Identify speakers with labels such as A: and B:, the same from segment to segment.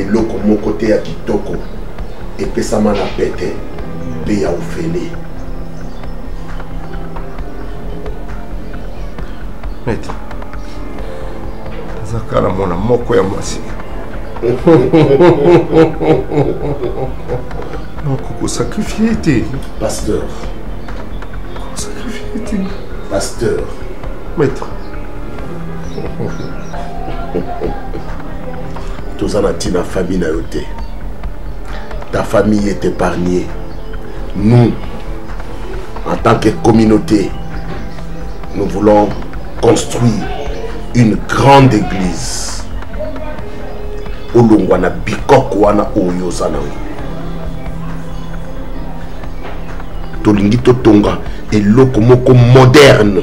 A: eloko moko te ya kitoko epesama na pete mpe ya ofele
B: mete aza kala mwana moko ya mwasi noko kosakrifie te pasteur
A: kosakrifie
B: te pasteur
A: maître toza na ntina famille na yo te ta famille est épargnée nous en tant que communauté nous voulons construire une grande église olongwa na bikoko wana oyo oza na yo tolingi totonga eloko moko moderne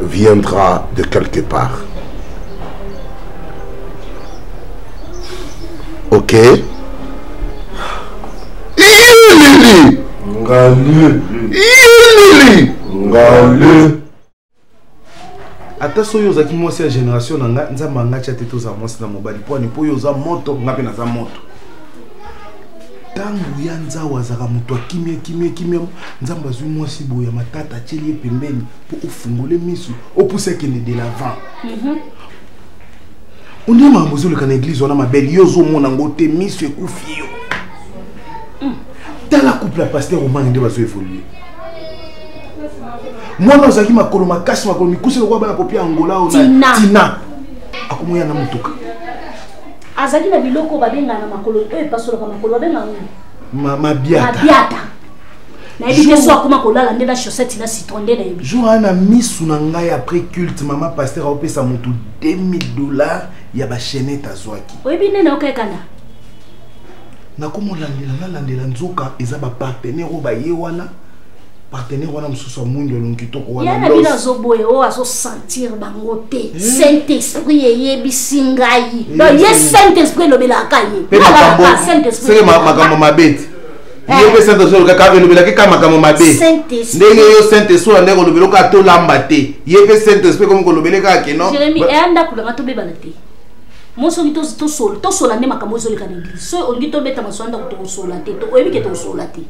A: viendra de quelque part. Ok Yelili Ngalili
C: Yelili Ngalili ata soki ozalaki mwasi ya génération na ngai nzambe angatya te tozala mwasi na mobali pwani mpo oyo oza moto ngai mpe naza moto ntango ya nzau azalaka moto akimia kimia kimia nzambe azwi mwasi boye ya matata atyeli ye pembeni po ofungole misu opusi akende de l'avant mhm. ondie makambo ozoleka na eglise wana mabele yo ozomona yango te misu ekufi yo mm. tala couple ya paster omani nde bazo évolue mwana ozalaki makolo makasi makolo mikuse lokola bana popia angola o tina akomoya na motuka
D: azalaki na biloko babengana makolo oyo epasolaka makolo babengana
C: mabiata
D: nayebi te so akoma kolala nde na chaussette na citron nde nayebi jour aa na misu na
C: ngai après culte mama paster aopesa motu 2000 dollars ya bachenete azwaki oyebi nde naokekana nakomolandela nalandela nzoka eza bapartenaire oyo baye wana partenaire wana mosusu amwingi elongi kitoko wanayana bino azoboye
D: oyo azosentir bango te eh? saint esprit eyebisi ngai eh, ye saint esprit elobelaka ye
C: makambo mabe te ye mpe saint esprit olukaka elobelaki kaka makambo mabe ndenge yo saint esprit oya nde kolobela okaa tolamba te ye mpe saint esprit ekomi kolobele kaka keno jeremi eya ndako nanga
D: tobebana te moi soki tosola nde makambo ezoleka na eglise soki olingi tobeta masolo ndako tokosola te oyebi ke tokosola te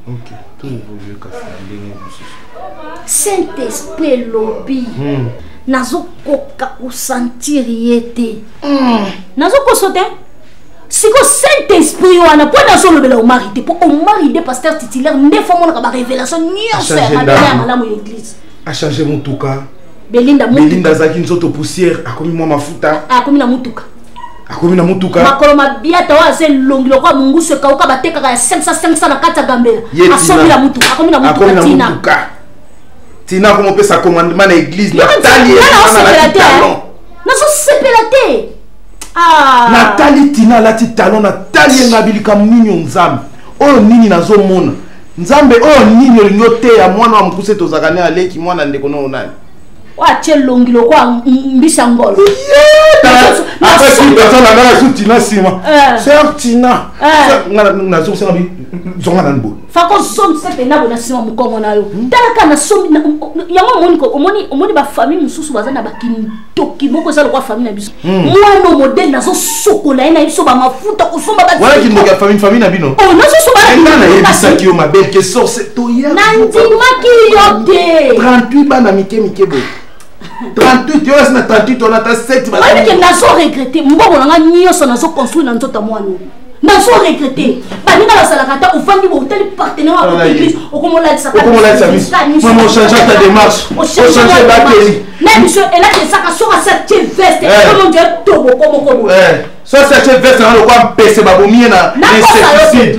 C: saint esprit
D: elobi hmm. nazokoka kosentir ye te hmm. nazokoso te siko saint esprit wana mpo ete azolobela omari te mpo omari nde pasteur titulaire nde fo amonaka barévélation nyonso ya mabele ya malamu ya église achange motuka
C: belinda belinda
D: azalaki nzoto
C: poussière akomi mwa mafuta akomi na motuka
D: akomi na motuka
C: makolo mabiata oyo
D: aza elongi lokola mongusu ekauka batekaka ya 500 500 na kati ya gambela asomi na motuka akomi na motuka tina
C: tina akomopesa commandement na église natali ye nazosepela
D: te Ah.
C: natali tina alati talon natali ye ngabi likambo nini yo nzambe oyo nini nazomona nzambe oyo nini olingi oteya mwana wa mokuse tozalaka ne aleki mwana ndeko nao nani oatie
D: elongi lokola mbisa ngolo
B: apesiaanangasu tina nsima eh. ser tina eh. nazongisaka bi zonga nani boye fakozongisa mpena
D: bo na nsima mokongo na yo hmm? talaka na yango omoni omoni bafamille mosusu baza na bakini toki moko eza lokola famille na biso hmm. mwana modele nazosokola ye na ye biso bamafuta kosomba wana kindoki ya famille famille na
C: bino oh, nazosobanayebisaki
D: yo
C: mabele ke sorce toya nandimaki
D: yo te 38 bana mike
C: mike boye 38 yo esi na 38 wana ata 7 nazo regrete
D: mbongo na ngai nyonso nazo construire na nzoto ya mwana nazo regrete baninga bazalaka ata ofandi bo otali partenaire wa kota eglise okomolatisaaochange
C: ta démarche ochange bakeli na biso elaki
D: esaka soki asati veste omonje eh. tobokomoko boye eh. soki asati
C: veste na lokwa mpese babomi ye na insecticide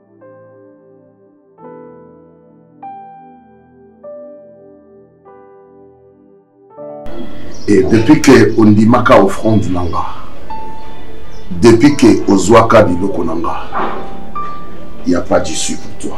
A: Et depuis que ondimaka offrande na nga depuis que ozwaka biloko na nga il n'y a pas d'issue pour toi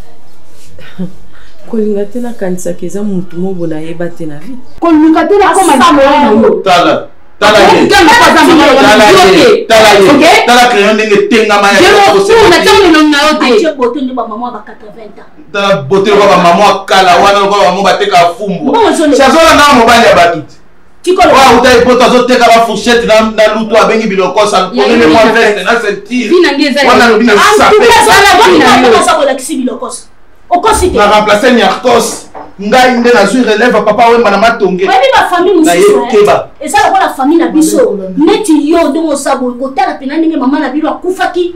E: kolinga te nakanisaka eza motu mobo nayeba te na vie koluka te
D: nakomatala tala
C: crayon ndenge etengama
D: tala bote lokola bamama
C: ya kala wana lokola bamama bateka fumbwa sazolanga mobali ya bato te oyo autaki
D: poto azoteka
C: ba fourchette na lutu abengi bilokos akomeme mwa veste na sentirewana alobi na sapeolakisi bilokos okosi te na remplace niarkos ngai nde nazwi relève papa wemba na matonge oyebi bafamille
D: mosusuokeba eza lokola
C: famille na
D: biso neti yo ndenge osaboye kotala mpena ndenge mama na bino akufaki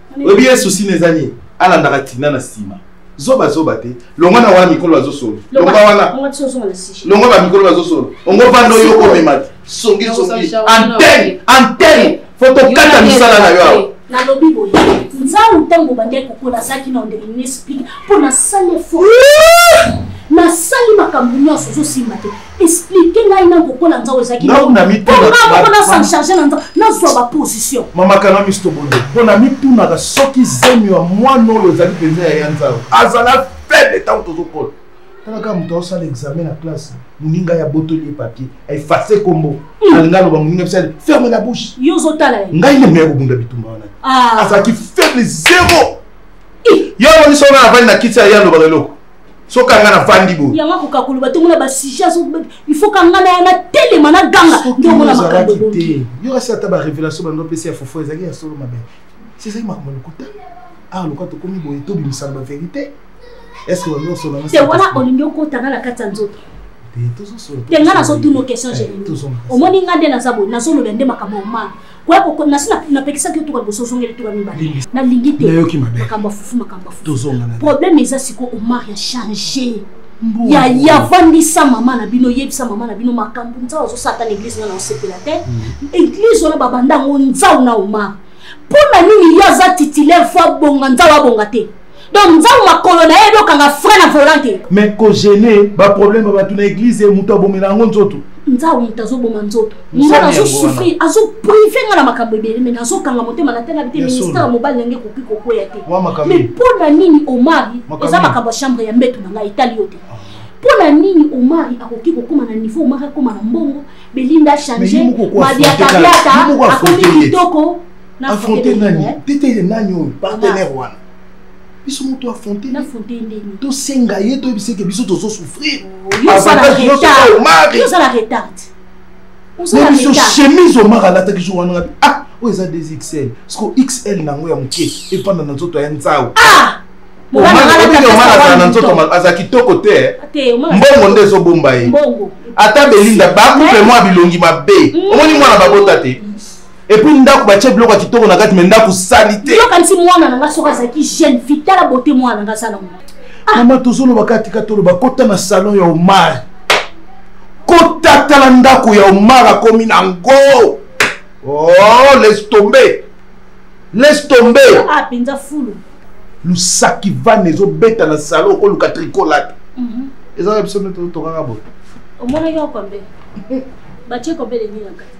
C: oyebi ye susi na eza nini alandaka tina na nsima zoba zoba te longwa na wana mikolo bazosolo longwa wana longwa bamikolo bazosolo ongo vanda oyo okomema te songi songi antene antene fo tokata misala na yo awa nalobi boye
D: nzango ntango obandaki kokola azalaki na ondele nini esplike mpo nasali efo nasali makambo nyonso ozosimba te explike ngai na kokola nzao ezalaki ngai na mitunamoko
C: na s'en charge
D: na nzao nazwa baposition mamakana miso tobondo
C: mpo na mitunaka soki zemi ya mwana oyo ezali mpenza ya ya nzao azala faible ntango tozokola talaka moto aosala examen na classe moninga ya botoli ye papier aefase nkombo hmm. alinga aloba moninga bisali ferme la bouche yo ozotala ye ngai nde meya kobunda bitumba
D: wana
C: ah. azalaki faible zero yo omoni songa na vani na kiti ya ye alobaka eloko soki anga nafandi boye yango akoka koloba te omona
D: basujet il faut kanga na yana telema na ganga nde omona makambo te yo asi ata
C: barévélation bando opesi ya fofo ezalaki ya solo mabe si ezalaki makambo ya lokuta awa ah, lokola tokomi boye tobimisana baverité estce bandosolate wana olingi okotanga
D: na kati ya nzoto te nga nazotuna question générale omoni nga nde naza boye nazoloba nde makambo omanga koya kokoma nasi napekisaki yo tuka liboso ozongeli tuka mibale nalingi te makambo ya fufu makambo ya fufu problème eza sikoyo omar ya change yaya avandisa mama na bino yebisa mama na bino makambo nzau azosala ta na eglise nga na osepela te mm. eglise wana babanda yango nzau na omar mpo na nini ye aza titulaire fo abonga nzau abonga te donc nzambe makolo na ye dokanga frein na volant te mais kogene
C: baproblème ya bato na eglize moto abomela yango nzoto nzambe moto azoboma
D: nzoto nga nazosouffrir azoprive nga na makambo ebele mai nazokanga motema natalabi te ministère ya mobali nange ekoki kokweya te mai mpo na nini omari eza makambo ya chambre ya mbeto na ngai etali yo te ah. mpo na nini omari akoki kokóma na niveau omari akóma na mbongo belinda change mabiakabiata akomi kitoko afronte
C: nani tetele nani oyo partenaire wana biso moto afronte
D: tosenga ye toyebisa
C: eke biso tozo souffrir
D: biso chemise omar alataki
C: jour wana ngabi ah oyo eza 2 xl siko xl na yango ya moke efanda na nzoto ya nzau omar na nzoto aza kitoko te mbongo nde ezobomba ye ata
D: belinda
C: bakupe mwa bilongi mabe omoni mwana babota te Et puis ndaku ba tie biloko ya kitoko na kati mais ndaku salite. Yo kanisi mwana na nga
D: soki azalaki jeune fille tala beauté mwana na nga sala ngo. Ah. Mama tozoloba
C: kati kati oloba kota na salon ya Omar. Kota tala ndaku ya Omar akomi na ngo. Oh, laisse tomber. Laisse tomber. Ah, penza fulu.
D: Lusaki
C: van ezobeta na salon okoluka tricolate. Mhm. Mm ezalaka biso nde tokanga boye omonaki okombe
D: batie kombe lengi na kati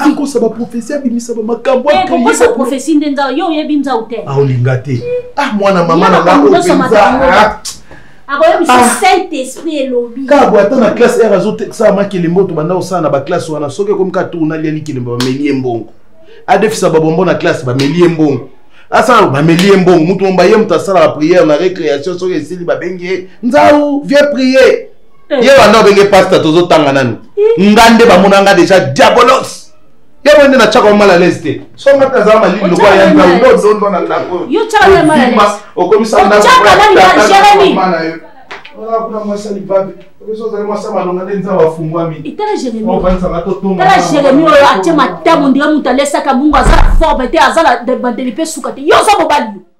C: akosaba
D: prophesie abimisaba
C: makambo prophesie nde nzao yo oyebi
D: nzao te aolinga te
C: ah mwana mama na nga akoyebisa ah.
D: saint esprit elobi kabo ata na classe
C: r azotekisaka makelembo tobanda kosala na baklasse wana soki ekomi ka tourna lia likelembo bameli ye mbongo adefisa babombo na classe bameli ye mbongo asala bameli ye mbongo moto momba ye moto asalaka priere na récréation soki esili babengi ye nzau vie priere eh. ye wanda obenge pasta tozotanga nanu eh. nga nde bamona nga deja diabolos ye boye nde natyaka mal à l'aise te so nga mpe azala malili lokola ya ndondondo na ndako
D: okomisa kuna mwasi alibabe
C: okosi ozali mwasi ya malonga
D: nde
C: nzambe afungwamiofandisanga
D: totongala
C: jeremi oyo
D: atye matamo ndenge moto alesaka bongo aza forme te aza na bandeli mpe suka te yo oza mobali yo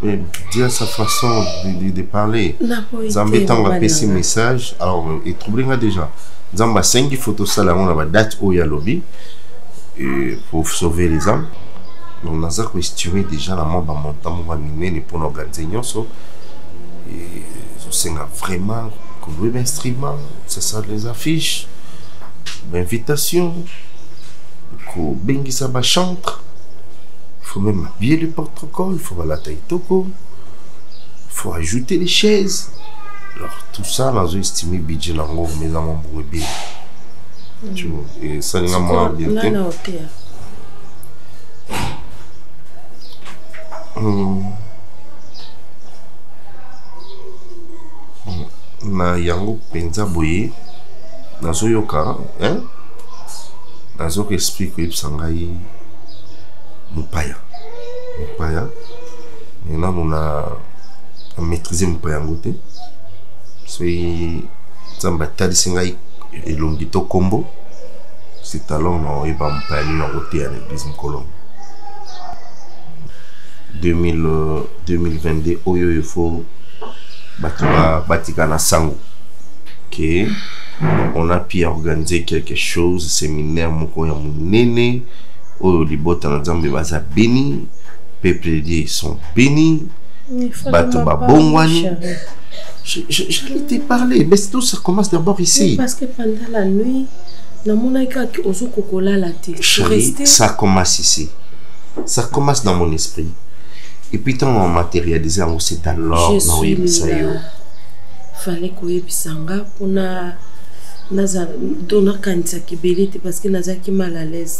E: Mais dire
A: sa façon de, de, de parler. Nzambe ntango apesi message, alors etrouble nga déjà. Nzambe asengi faut tosala yango na badate oyo ya lobi pour sauver les âmes. Donc naza koestime déjà na mwa bamontant moko ya minene mpo na organise nyonso. Ezosenga vraiment kolouer bainstrument, ça sera les affiches, bainvitation, kobengisa bachantre, faut même habiller le porte l'école faut balata itoko faut ajouter les chaises alors tout ça nazo estime budget na ngo mais na mbongo ebele mm. tu vois et ça ninga mwa bien te na hotel hmm. hmm.
F: na yango mpenza boye nazoyoka hein? nazoka explique oyebisa ngai mopaya mopaya mais nanu na maîtrise mopaya yango te soki nzambe atalisi ngai elongi to nkombo c'est alors na oyeba mopaya nini yango te ya na église mokolo 2022 oyo il faut bato batika na sango que on a pu organiser quelque chose séminaire moko ya monene oyo libota na nzambe baza beni peuple de sont beni bato babongwani j'allais te parler mais tout ça commence d'abord ici parce que pendant la
E: nuit namonaki kaka ozo kokolala
F: te chérie ça commence ici ça commence dans mon esprit et puis ntango na matérialise yango c'est alors na oyebisa yo
E: fallait koyebisa nga mpona nazala to nakanisaka ebele te parce que nazalaki mal à l'aise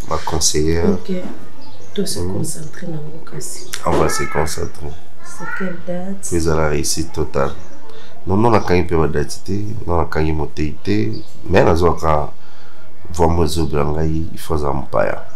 F: ba conseillers ok
E: to se mm. concentrer na ngo kasi on va se concentrer
F: c'est quelle
E: date puis à la réussite
F: totale non non nakangi mpe badati te non nakangi motei te mais nazwaka vraimen ezobela ngai ifo azala mopaya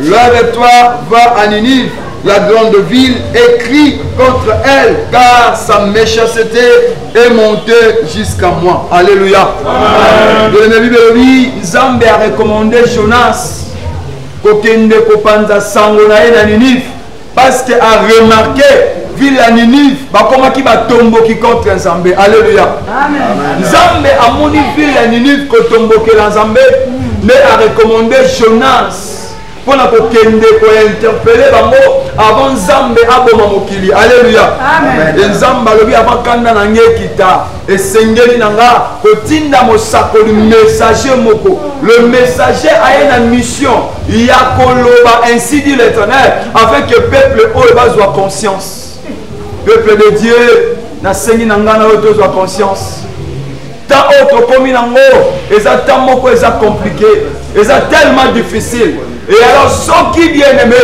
C: Loin de toi, va à Ninive, la grande ville, et crie contre elle, car sa méchanceté est montée jusqu'à moi. Alléluia. Bien-aimé, Bible elobi, Nzambe a recommandé Jonas kokende kopanza sango na ye na Ninive. parce que a remarqué ville ya ninive bakomaki batomboki contre nzambe alleluya nzambe amoni ville ya ninive kotombokela nzambe nde arecommande jonas mpo na kokende kointerpele bango avant nzambe aboma mokili alleluya e nzambe alobi avant kanda na nge ekita esengeli na nga kotinda mosakoli messager moko le messager aye na mission ya koloba ainsi dit l'éternel afin que peuple oyo bazwa conscience peuple de dieu nasengi na ngai na oyo tozwa conscience ntan oyo tokomi nango eza ntan moko eza compliqué eza tellement difficile Et alors soki bien aimé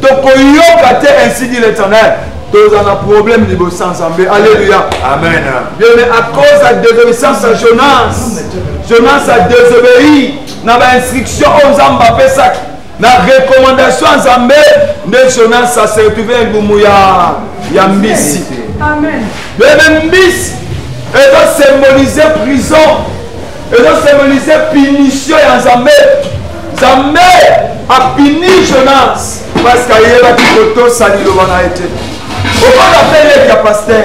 C: tokoyoka te ainsi dit l'éternel tozala na problème liboso ya nzambe alleluya amen bien mais à cause ya désobéissance ya jonas jonas a désobéi na bainstruction oyo nzambe apesaki na recommandation ya nzambe nde jonas a se retrouve engumu ya ya mbisi bebe mbisi ezo symboliser prison ezo symbolise punition ya nzambe nzambe apini jonas parce que ayebaki kotosa liloba na ye te okoda mpe leki ya paster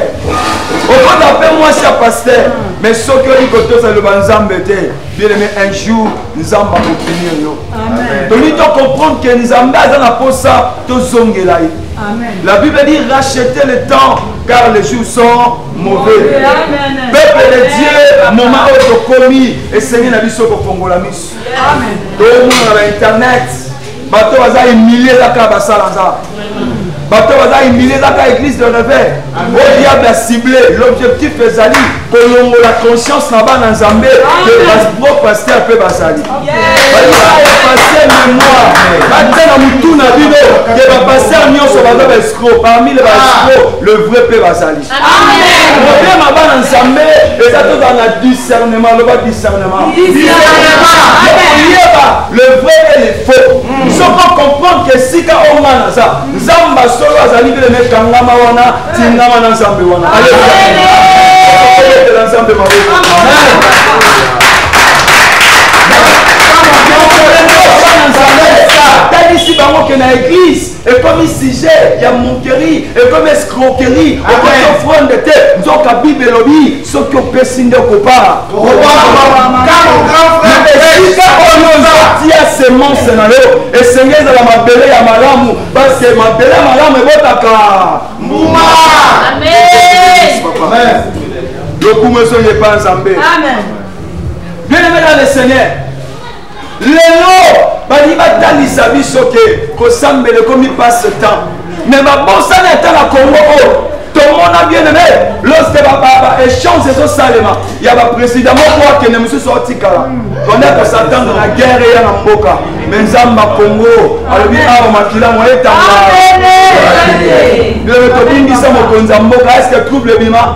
C: okoda mpe mwasi ya paster mais soki oyi kotosa liloba nzambe te bieleme un jour nzambe akopunir yo toni tocomprendre ke nzambe aza na mposa tozongela ye la bible dit racheter le temps car les jours sont mauvais peuple de dieu moma oyo tokomi esengi na biso kofongola miso tomonana na internet bato baza humilie kaka basala nza bato baza humilie kaka église de reveil o diable acible l'objectif ezali kolongola conscience na bana nzambe ke pro pasteur mpe bazali bapaster mémoire batia na motu na bino ke bapaster nyonso baza baescro parmi le baescro le vrai mpe bazali problème aba na nzambe eza tozala na discernement loba discernement oyeba le vrai et le faux soko comprendre ke esika oyo nga naza nzambe ya solo azali beleme kangama wana tingama na nzambe wana alebetela nzambe maboko atalisi bango ke na eglise ekomi sujet ya monkerie ekomi escroquerie okoki ofrande te nzoka bible elobi soki opesi nde okobala esika oyo ozotia semence na yo esenge ezala mabele ya malamu paske mabele ya malamu ebotaka mbuma lokumu ezongi epa nzambe bien aimé dans le seigneur lelo balingi batalisa biso ke kosambela ekomi passe temps me babosani ata na kongo oyo tomona bien aime lorsque baechange ezosalema ya baprésident moko akende mosusu aotikala banda kosatanda na guerre eya na mboka me nzambe kongo alobi awa makila moye tanga lelo tobingisa mokonzi ya mboka eske trouble ebima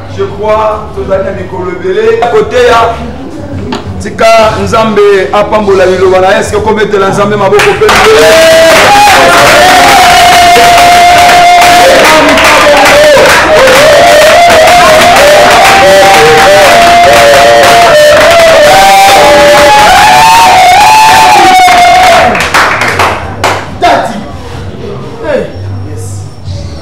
C: je crois tozali na mikolo ebele koteya tika nzambe apambola liloba na eske okobetela nzambe maboko mpe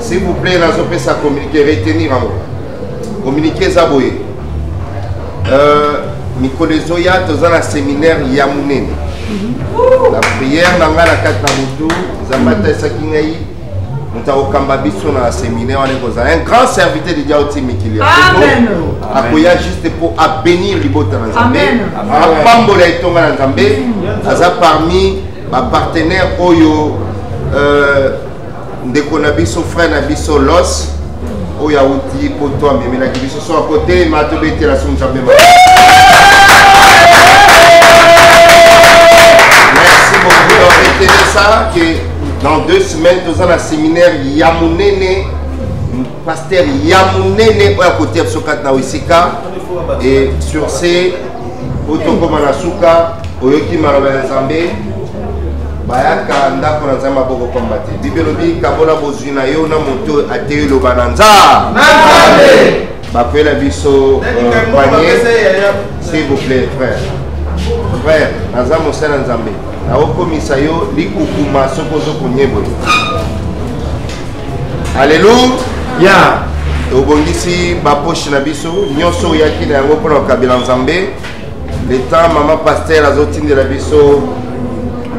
F: s'il vous plaît nazopesa communiqué retenir yango communiqué eza boye euh, mikolo ezoya toza na séminaire ya monene na prière na ngai na kati na motu nzambe atalisaki ngai moto akokamba biso na séminaire wana ekozala un grand serviteur de diao ti mikili akoya juste mpo abénir libota na nzambe apambola etonga na nzambe aza parmi bapartenaire oyo euh, ndeko na biso frère na biso los oyo awuti poto amemelaki biso so akotelema tobetela so nzambe ma merci beaucoup loretelesa ke dans deux semaines toza na séminaire ya monene pasteur ya monene oyo akotia biso kati na wesika et sur ce otokoma na suka oyoki maloba ya nzambe bayaka ndako na nzambe maboko pamba te bibi elobi kabola bozwi na yo na moto ateyi loba na nzambe bakwela biso euh, panie s'il vous plaît frère frère naza mosala nzambe nakokomisa yo likukuma soki ozo konyeboye Alléluia. Yeah. obongisi baposhe na biso nyonso oyaki na yango mpona kokabela nzambe le temps mama paster azotindela biso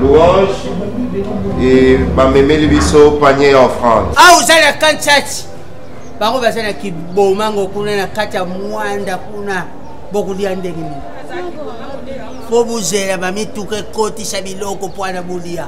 F: louange e bamemeli biso panier ya offrande awa ah, ozali na
G: kanchati bango baza na kibomango kuna na kati ya mwanda kuna bokolia ndenge nini mpo bozela bamituka ekotisa biloko mpo wana bolia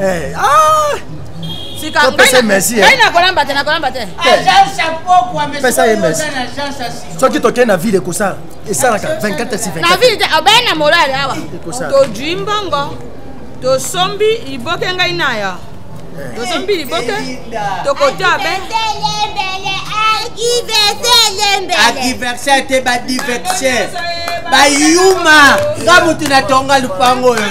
H: Eh, ah!
G: sika
H: ngai
G: nakolamba te nakolamba
H: te
G: pesa ye mesi
I: soki tokei na ville ekosala esalaka 24 si 24 na ville te obei na molali
H: awa todui mbongo tosombi liboke ngai naya eh. tosombi liboke tokotia be akiversaire
G: te badiversaire bayuma nga motu natonga lupango oyo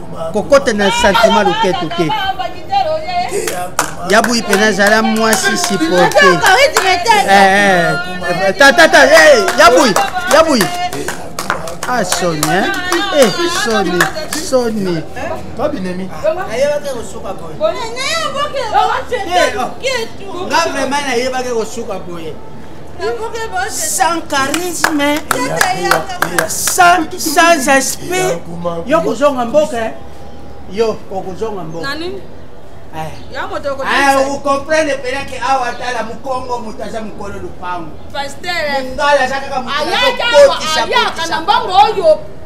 G: kokota na sentiment loketo te ya buyi mpenza azala mwasi siporte tatata ya buyi ya buyi ah soni eh? eh soni soni babinemi
I: nga vraiment
G: nayebaki kosuka boye sans charisme sans, sans esprit yo kozonga mboka eh? yo okozonga
H: mboka
G: okomprendre mpena ke awa atala mokongo moto aza mokolo lopango mongala aza kaka motoayaka na mbongo oyo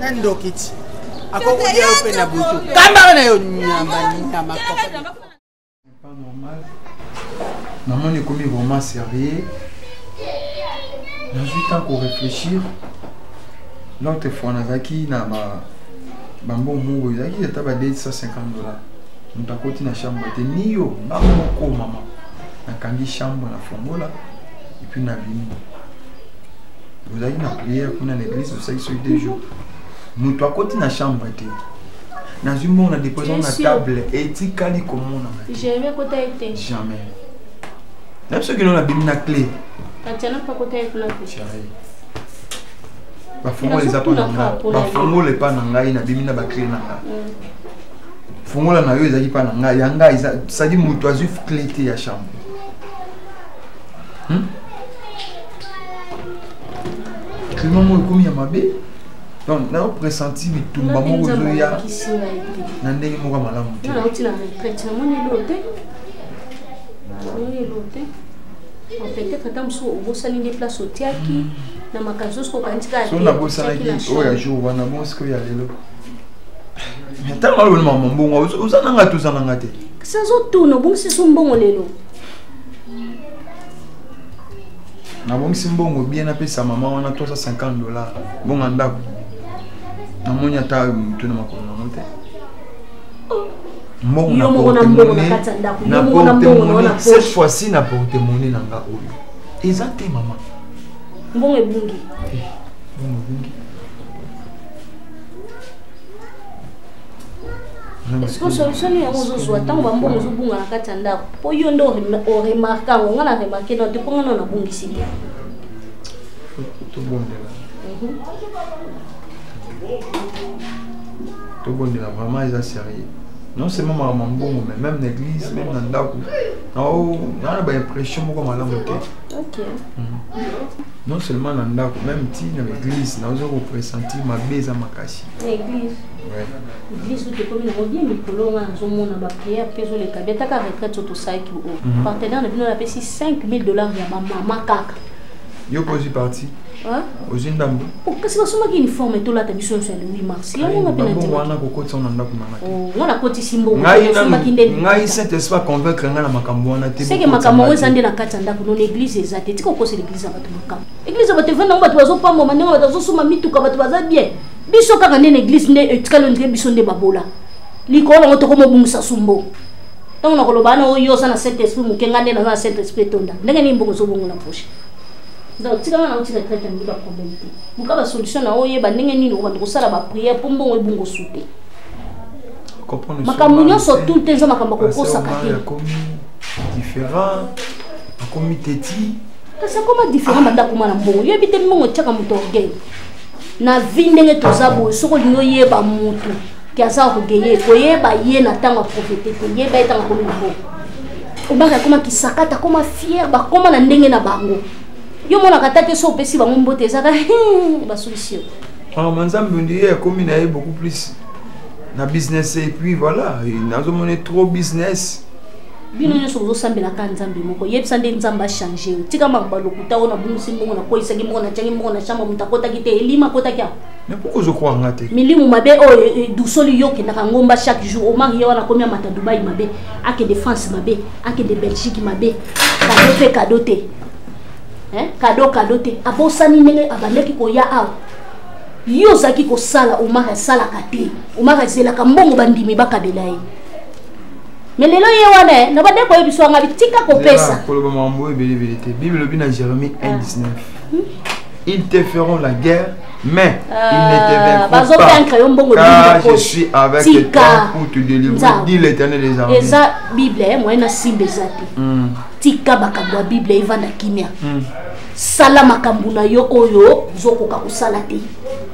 G: na ndoki ti akokolia yo mpe na butu kambaka
J: na yo nyama nyama pas normal namoni ekomi vraiment sérieux nazwi temps koréfléchir l'autre fois nazalaki na bambongo moko ezalaki ata ba 250 dollars moto akoti na chambre te niyo nga moko mama nakangi chambre na fongola epuis nabimi ozalaki na prière kuna na église osalaki soki deux jours moto akoti na chambre te nazwi mbongo na deposa na table etikali komonana jamais kota ye te
D: jamais
J: na biso kino nabimi na clé bafongola eza mpo na ngai bafongola epa na ngai nabimi na baclé na ngai mm. fongola na yo ezalaki mpa na ngai ya ngai sadi moto azwi clé te ya chambre hmm? Tellement moi comme ya mabe. Donc na pressenti bitumba moko zoya. Na ndenge moko malamu. Na otila na prêtre na moni lote. Moni lote. En fait, peut-être tant que vous savez des places au tiaki. Mm. na makambo nyonso koko kanisi kaka so nabosanaki oyo ya jour wana bongo sikoyo ya lelo ntango alobeli mama mbongo oza na ngai te oza na ngai te kasi azotuna obongisi so mbongo lelo nabongisi mbongo bien napesa mama wana 350 dollars mbongo ya ndako namoni ata motu na makolo nango te mbongo na portemone na portemone cette fois-ci na portemone na nga oyo eza te mama mbongo
D: ebungi eh, mbongo ebungi sikoyo solution nini yango ozozwa ntango bambongo ozobunga na kati ya ndako mpo yo nde oremarke yango ngai na remarke no te mpo ngai nano nabungisi te
J: tobondela mhm. tobondela vraiment eza sérieux non seulement makambo ya mbongo mais même na église même na ndako naa na baimpression moko malamu te mhm. non seulement na ndako même ti na église naoza kopressentir mabe eza makasi biso tokomi
D: nango bie mikolo nga nazomona bapriere mpe ezoleka bie ataka retraite oyo tosalaki o mhm. partenaire na bino napesi 5000 dollars ya bamama kaka yo mpe ozwi
J: parti ozwi ndambo oh, kasi basomaki
D: uniforme tolata biso nyonso ya le 8 mars yango nga mpe wana kokotisa na ndako nanga
J: te oh, nga nakotisi
D: mbongosombaki nde ngai
J: saint esprit convaincre ngai na makambo wana te seke makambo yango eza nde na
D: kati ya ndako nono église eza te tika okosela église ya bato makambo église ya bato evanda yango bato bazopambama ndenge bato bazosomba mituka bato baza bien biso kaka nde na eglise nde etikali eh, ondire biso nde babola likolo nango tokomobungisa sumbo ntango nakoloba ana oyo oza na saint esprit moke ngai nde naza na saint esprit etonda ndenge nini mbongo ozobongo na poche donc tikanga na otika traite yango baproblème te luka basolution na oyeba ndenge nini okobanda kosala baprière mpo mbongo ebongo su te makambo nyonso tout te eza makambo akokosaka te
J: akomi teti kasi akoma
D: différent banda akoma na mbongo yebi te mbongo etyaka moto orgueil na vie ndenge toza boye soki olingi oyeba motu ke aza orgueille koyeba ye na ntango ya profete te yeba ye ntango akomi libo obaka akoma kisakata akoma fiere bakoma na ndenge na bango yo monaka ata te so opesi bango mbote ezaka basolisi yo ah, manzambe
J: ondi ye akomi na ye beaucoup plus na business et puis voilà nazomona trop business bino nyonso
D: bozosambela kaka nzambe moko yebisa nde nzambe achange yo tika makambo lokuta oyo nabungisi mbongo nakolisaki mbongo natyaki mbongo na chambre moto akotaki te elima akotaki yango mais pourquoi ozokoka
J: nga te milimu mabe oyo oh, eh,
D: eh, dusoli yo okendaka ngomba chaque jour omar ye wana akomi amata dubai mabe akende france mabe akende belgique mabe kado mpe kado te kado kado te abosani ndenge abandaki koya awa yo ozalaki kosala omar asalaka te omar azelaka mbongo bandimi bakabela ye mais lelo ye wana eh, na bande koyebisa wanga bitika kopesa koloba makambo oyo ebelebele
J: te bible elobi na jérémie 1 19 ah. hmm? ils te feront la guerre mais euh, ils ne te vaincront pas car je suis avec Tika. toi pour te délivrer dit l'éternel des armées eza bible eh,
D: moyen na simba eza te hmm. tika makambo ya bible evanda kimia hmm. sala makambo na yo oyo ozokoka kosala te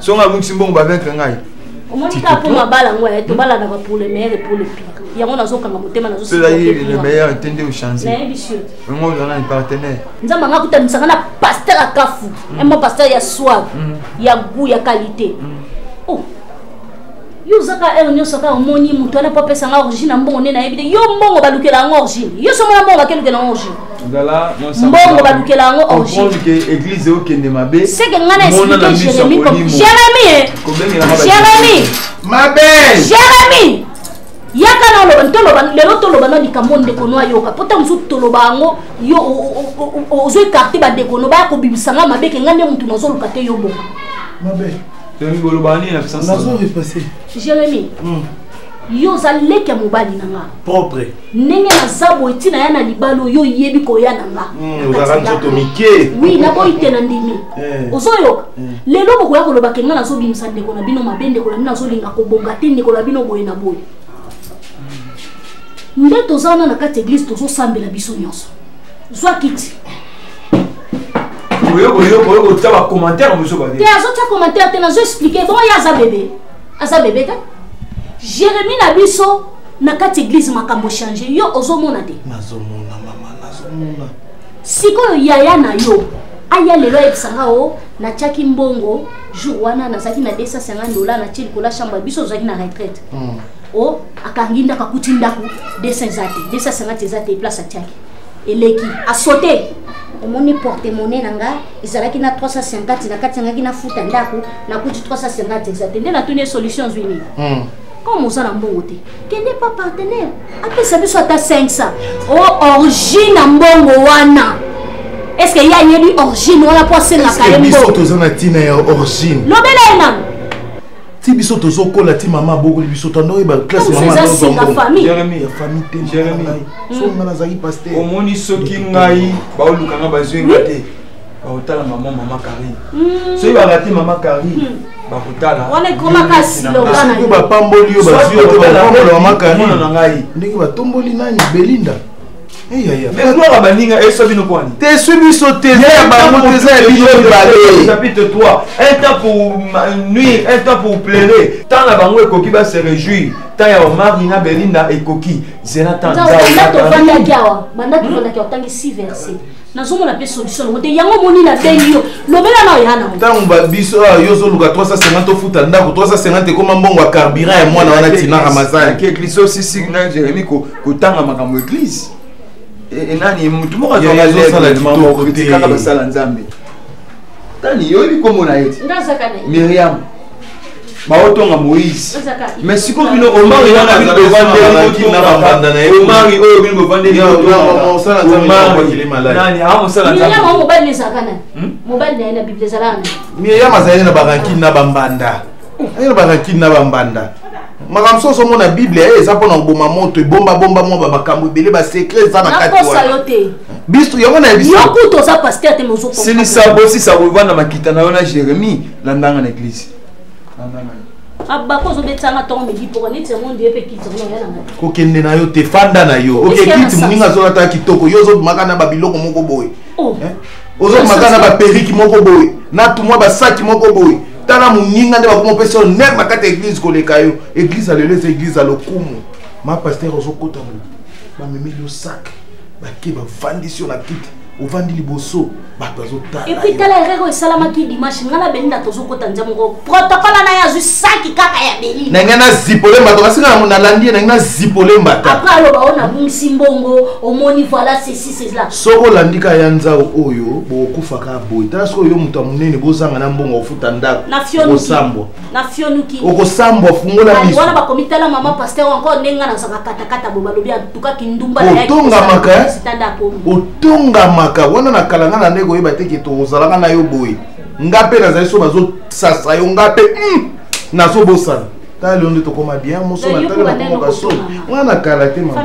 J: soki ngai abungisi mbongo bavaincre ngai omoni kaka mpo
D: mabala yango ya tobalanaka pour le meilleur et pour le pire yango nazokanga motema nazolemeilleur
J: te nde ochangeyango
D: oza nani
J: partenaire nzambe anga kutanisaka
D: na paster ya kafu mm. emo paster ya soir mm. ya gout ya qualité mm. yo oza kaka heure nyonso kaka omoni moto wana mpo apesa nga origine ya mbongo nde nayebi te yo mbongo balukela yango origine yo so mona mbongo bakelukela yango origine mbongo
J: balukela
D: yango origineeglise
J: okende mabe seke ngai na explike
D: jérémi jérémi jérémi mabe jérémi yaka na oloba toloba lelo toloba na likambo ndeko no ayoka mpo ntango mosusu toloba yango yo ozo ekarte bandeko no baya kobimisa ngai mabe ke ngai nde motu nazoluka te yo bongo
C: Jérémy bolobana
J: nini na puissance nazo repasser
C: Jérémy
D: hmm. yo oza leki ya mobali na nga propre
C: ndenge naza
D: boye ntina ya na libala oyo oyebi koya na nga hmm, ozaka nzoto
C: mike wi naboyi te na
D: ndimi eh. ozoyoka eh. lelo bokoya koloba ke nga nazobimisa ndeko na bino mabe ndeko na bino azolinga kobonga te ndeko na bino boye na boye nde toza wana na kati ya eglise tozosambela biso nyonso zwa kiti
J: oyokoyokoyokotia bacommentaire mosusu babe te azotia commentaire te
D: nazo explike bongo ye aza bebe aza bebe te jérémi na biso na kati église makambo change yo ozomona te nazomona
C: mama nazomona sikoyo
D: yaya na yo aya lelo ayebisa nga o natiaki mbongo jour wana nazalaki na 250 dola natie likolo ya chambre ya biso ozalaki na retraite hmm. o akangi ndako akuti ndako 200 eza te 250 eza te place atiaki eleki asote omoni porte monnaie na nga ezalaki na 350 na kati yangaki nafuta ndako nakuti 350 eza te nde natuni ye solution azwi nini hmm. comme oza na mbongo te kende pa partenaire apesa biso ata 500 o origine na mbongo wana estce ye ayebi origine wana mpo asengaka ye mbongo toza na ntina
C: ya origine lobela ye nano
D: ti
C: biso tozokola ti mama abokoli biso tandoyeba classe mamafamille
D: te
J: hmm.
C: so
J: nga nazalaki
C: paster omoni soki
J: ngai baoluka nga bazwi nga te bakotala mama mama karine hmm. soki barate mama karine hmm. bakotalasoki
D: bapamboli yo
C: bazwi yo te bapambola mama karine ndenge batomboli nani belinda
J: mais gloire ya baninga eswa bino mpo ani teswi biso te
C: eza ya bango te eza ya bino mibale tapite toi
J: un temps pour nuire un temps pour plairer temps na bango ekoki ba se réjouir temps ya omari na belinda ekoki zela temps banda tofandaki awa banda tofandaki
D: otangi 6 verset nazomona mpe solution yango te yango omoni na bengi yo lobela na oya nango ntango babiso awa
C: ah, yo ozoluka 350 tofuta ndako 350 ekoma mbongo ya carburant ya mwana wana tina ramazanki eglise osisi
J: na jeremi kotanga makambo eglise e, e, nani motu
C: moko
J: azwaaokritikaka basala nzambe nani yo oyebi komona ye miriam baotonga moïse mais siko bino omari wana bino bovandeomari oyo bino bovandeomariaomosala miriam azali na barankine na bambanda ayina barankine na bambanda makambo soso omona biblia ye eh, eza mpona koboma moto ebombabomba mwa bamakambo ebele basekre eza na kati wana biso yango na yebisisilisa
D: bosisa
J: kovanda makita na yo na jérémie na ndanga na eglise
D: abako ozobetisa nga ntongo midi mpoka neti yango ndiye mpe kiti yango naoya na ngai kokende na yo te
C: fanda na yo oke kiti moninga azolata kitoko yo ozobimaka na babiloko moko boye oh. eh? ozobimaka na baperiki moko boye na tumwa basaki moko boye tala moninga nde bakoma opesa yo ner na kati ya eglize koleka yo eglize ya lelo eza eglize ya lokumu ma paster ozokota mo bamemeli yo sak bake bafandisi yo na kiti ovandi liboso bato azotalaepuis tala erreur oyo
D: esalamaki dimanche ngai na belinda tozokota nzia moko protokole na ye azwi saki kaka ya belinda na ngai na zipole mbata
C: kasi ngai nalandi ye na ngai na zipole mbata apres aloba oyo nabungisi
D: mbongo omoni voilà ceci cela soko olandi ka ya
C: nzau oyo bokokufaka boye tala soki oyo moto ya monene bozanga na mbongo ofuta ndako osambwa
D: na
C: fionuki
D: okosambwa fungola
C: miso wana bakomi tala mama
D: pasteur encore ndenge nga nazaka katakata bo balobi antuka kindumba otongamaka eh?
C: otongamaka wana na kala nga na nde koyeba te ke tokozalaka na yo boye nga mpe nazali so bazosasa yo nga mpe hmm, nazobosana tala leo nde tokoma bien moso na tala na koma basoni wana na kala te mama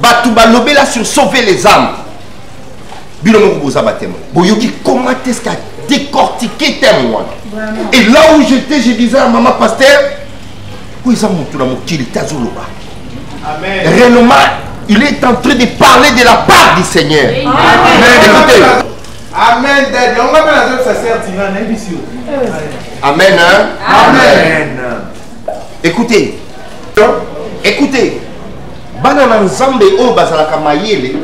F: bato balobela sur sauver les âmes bino moko boza batemo boyoki comment est ce qu'a décortiqué teme wana et là où j'étais je disais à maman pasteur oyo eza motu na mokili te azoloba
C: renoma
F: il est en train de parler de la part du seigneur Amen. Amen.
C: Écoutez, Amen
F: daddy. On va pas la zone ça sert Tina, n'est pas sûr. Amen hein?
C: Amen.
F: Écoutez. Écoutez. Bana na Nzambe oyo bazalaka mayele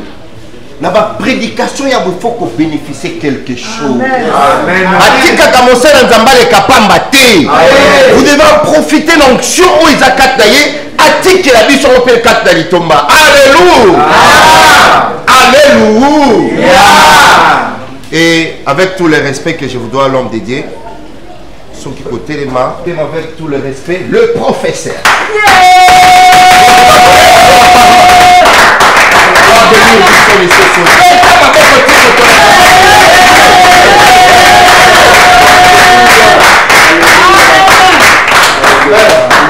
F: na baprédication ya bofo kobénéficie quelque chose
C: atikaka
F: mosala nzambe aleka pamba te vous devez profiter na onction oyo eza kati na ye atikela biso ngo mpe kati na litomba alleluia alleluia et avec tout le respect que je vous dois l'homme dédié soki kotelema telema avec tout le respect le professeur Yeah.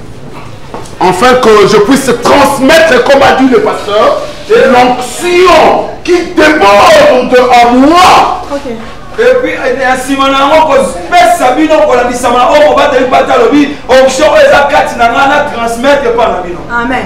A: Enfin que je puisse transmettre comme a dit le pasteur et l'onction qui déborde de en moi. Okay. epuis
J: na nsima na yango kopesa bino kolandisama na oyo mobateli mpata alobi
H: onction oyo eza kati na ngai na transmettre epai na bino amen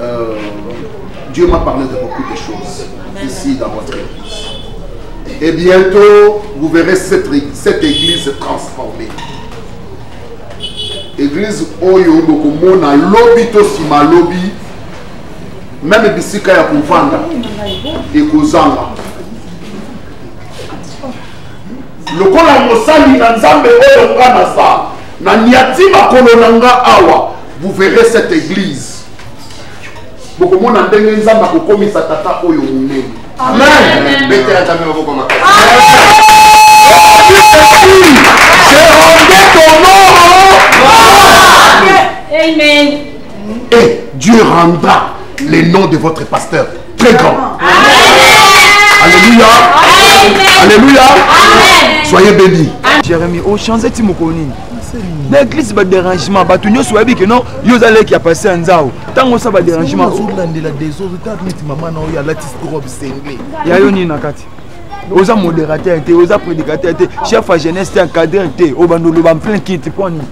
A: Euh, Dieu m'a parlé de beaucoup de choses ici dans votre église. Et bientôt, vous verrez cette, cette église transformée. Église Oyo Bokomona, Lobi Tosima Lobi, même Bissika ya Kouvanda, et Kozanga. lokola mosali na nzambe oyo nga naza na niati makolo na nga awa vous verrez cette église bokomona ndenge nzambe akokomisa tata oyo monene amen betela nzambe maboko makasi
D: Amen. Et
A: Dieu rendra les noms de votre pasteur très grand. Alléluia. Alléluia. Soyez bénis. Jérémie, au change
J: ti mokoni. na eglise badérangement bato nyonso bayebi ke non yo oza leki ya pase ya nzao ntango osa badérangement ozolandela desozotaneti mama na oyo alati robe sengle ya yo nini na kati oza modérateur te oza prédicateur te chef ya jeunesse te encadreur te obanda oloba plein kiti mpo nini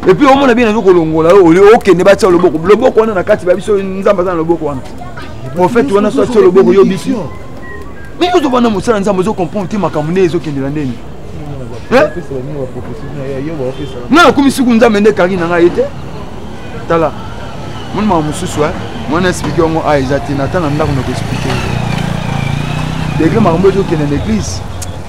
J: epuis
K: omona bien nazo kolongola yo oli okende batia loboko loboko wana na kati ba biso nzambe aza na loboko wana profete wana so atia loboko yo bisi mais ozobana mosala nzambe ozo comprendre te makambo nde ezokendela ndeni nga nakomi suku nzambe nde kaki na ngai ye te tala moni makambo mosusu mwana explike yango a eza te na ntango na ndako na koexplike degre makambo ezokende na eglise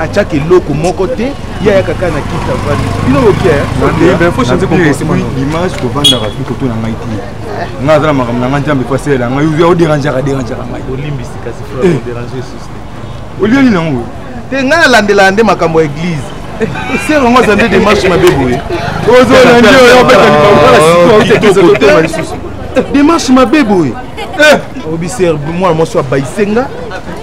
C: atiaka eloko moko te ye ayaka kaka na kiti avandi bino
K: bokiaimage kovandaka fi koto na ngai te ngai aza na makambo na ngai nzambe fo asalela ngai oyo oderangeaka derangeaka ngai olimbisi
C: kasi eh. olie nini yango
K: te ngai nalandelaka
C: nde makambo ya eglize ser yango aza nde demarche mabe boye ozolandi
K: oyo obeta libaoaotekezaotema lisusu
C: demarche mabe boye obiser mwana mwasi abaise nga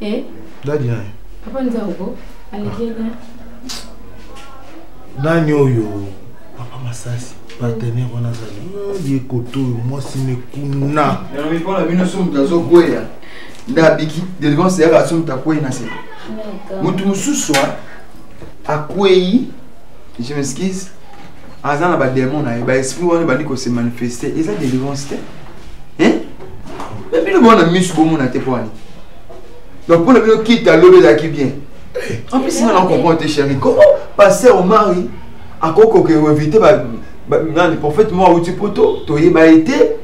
C: Eh? Dadi naye.
D: Papa
C: Nzauko, alikenya. Nani oyo papa Masasi partenaire wana azali hmm, ye koto oyo mwasi mekuna. Yango mpo na bino
K: somo tazokwea nde abiki delivrance yaka somo takwei na se. Moto mosusu akwei, je m'excuse, aza na bademo na ye baesprit wana ebandi kose manifeste eza délivrance te bino mona misu bomona te mpo ani donc mpo na bino kite alobi ezalaki bien en plus nga na comprendre te chéri comment passer omari akoki kokeevite nani prophète moko awuti poto toyeba ye te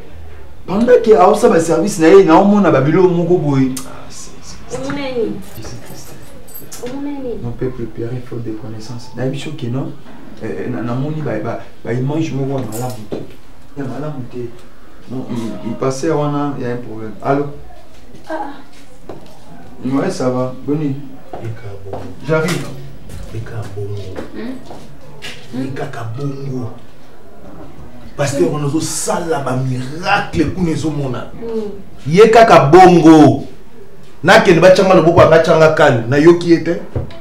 K: pendant ke aosa baservice na ye naomona babilo moko boye mon peuple père faut des connaissances nayebi soki non eh, eh, namoni baimage moko ya malamu te ya malamu te ipase wana ya un problème allo ah, ah. ouais ça va boni j'arrive ekaka bongo hmm?
C: ekaka bongo pasteur wana ozosala bamiracle kuna ezomonana hmm. ye kaka bongo nakende batyanga loboko anga tyanga kani nayoki ye te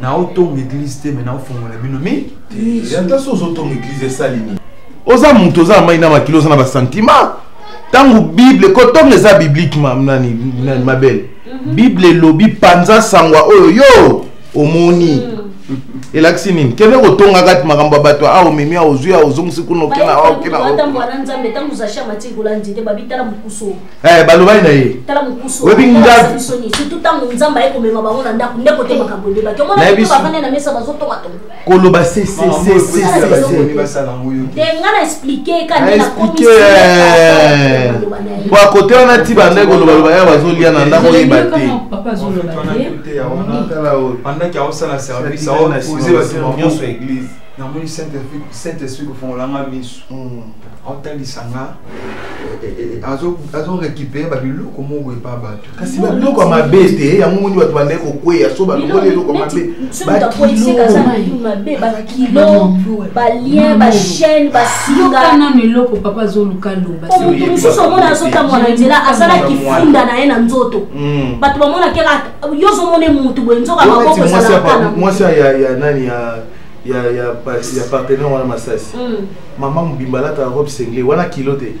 J: naotonga eglise te me naofongola bino mi ata so
C: ozotonga eglise esali nini oza moto oza na mai na makili oza na basentiment ntango bible kotonga eza biblike nani mabele mhm. bible elobi panza sangwa oyo yo omoni mhm. elakisi nini kende kotonga kati makambo ya bato awa omemi awa ozwi awa ozongisi kuna okena awa okena
D: Eh, balobani na ye
C: oyebi
D: ngakoloba
C: po akote wana ti banda kolobaloba ya bazolia na ndako oyeba te
J: namoni saint esprit kofongolanga misu aotalisa nga azo récupere babiloko moko epa bato kasi babiloko ya mabe
C: te eh, yango moni bato bandai kokweya so balongoli eloko mabe balien
D: bachaine basinganano eloko papa
E: azoluka lobamoto mosusu omona
D: azotamwa na nzela azalaki funda na ye na nzoto hmm. bato bamonakela yo ozomona motu boye nzoka maboko ezalaka mwasi ya
C: nani ya ya ya ya partenaire wana masasi mm. mama mobimba alataka robe sengle wana kilo te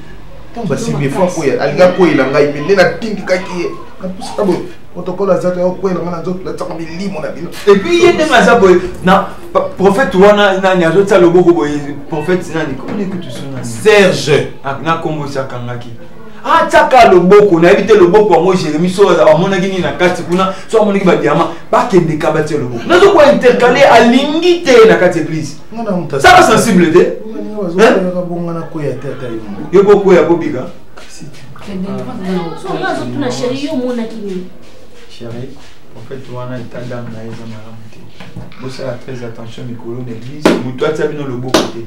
C: ntango basimbi efo akoya alingi akweyela ngai mpe nde natindikaki ye napusaka boye protocole aza te akweyela ngai na nzoto natyaka milimo na bino epuis ye ndenge aza
K: boye na prophète wana nani azotya loboko boye prophète nani komoni kutu suna serge ah,
C: na nkombo osi
K: akangaki atiaka ah, loboko nayebi te loboko yango jérémi so amonaki nini na kati kuna so amonaki badiama bakendeka batia loboko nazo koya intercale alingi te na kati église sala sensible te yo bokwea kobika
D: chéri
J: prophète wana eta dame na ye eza malamu te bosala très attention mikolo na église moto atia bino loboko te